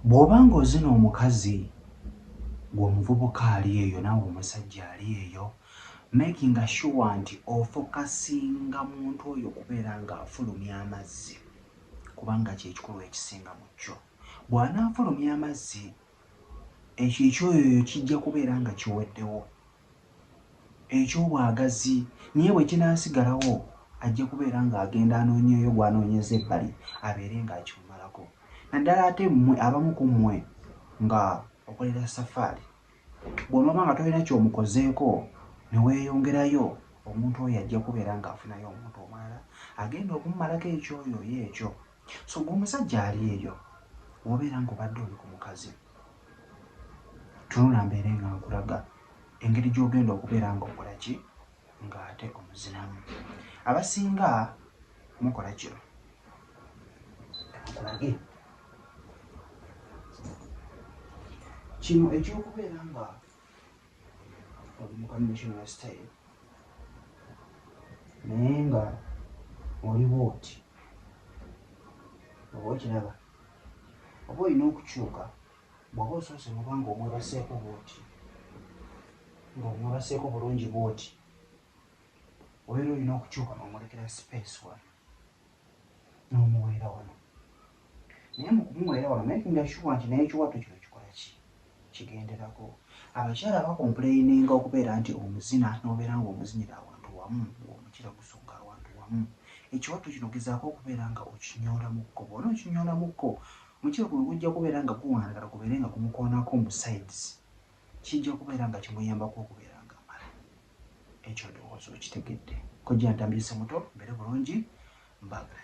Bw'oba ng'ozina omukazi gwe omuvubuka ali eyo naawe omusajja ali eyo, makinga sure nti ofokasinga muntu oyo okubeera ng'afulumya amazzi kubanga kye kikulu ekisinga mu kyo. Bw'anaafulumya amazzi, ekyo eky'oyoyo kijja kubeera nga kiweddewo. eky'obwagazi naye bwe kinaasigalawo ajja kubeera ng'agenda anoonyeeyo gw'anoonyeza ebbali abeere ng'akimumalako naddala ate mmwe abamu ku mmwe nga okolera safaali bw'onooba nga tolina ky'omukozeeko ne weeyongerayo omuntu oyo ajja kubeera ng'afunayo omuntu omulala agenda okumumalako ekyoyo oyo ekyo. So gwe omusajja ali eyo wobeera nga obadde oli ku mukazi tunula mbeere nga nkulaga engeri gyogenda okubeera nga okola ki ng'ate omuzinamu abasinga mukola kino kulage kino ekyokubeera nga oli mu conventional style naye nga oliwo oti oba okiraba oba olina okukyuka bwoba osoose mubanga omwebaseeko bwoti ngaomwebaseeko bulungi bwoti obeera olina okukyuka nomulekera space wano n'omuweera wano naye mu kumuweera wano making sure nti naye ekiwato kino kikola ki kigenderako abakyala bakompuleyininga okubeera nti omuzina n'obeera ng'omuzinira awantu wamu ng'omukira gusonga awantu wamu ekiwato kino gezaako okubeera nga okinyoolamuko bwona okinyoolamuko omukira guno gujja kubeera nga guwanagala gubeere nga gumukoonako mu sides kijja kubeera nga kimuyambako okubeera ekyo ndowooza okitegedde kojja ntambyise muto mbere bulungi mbagala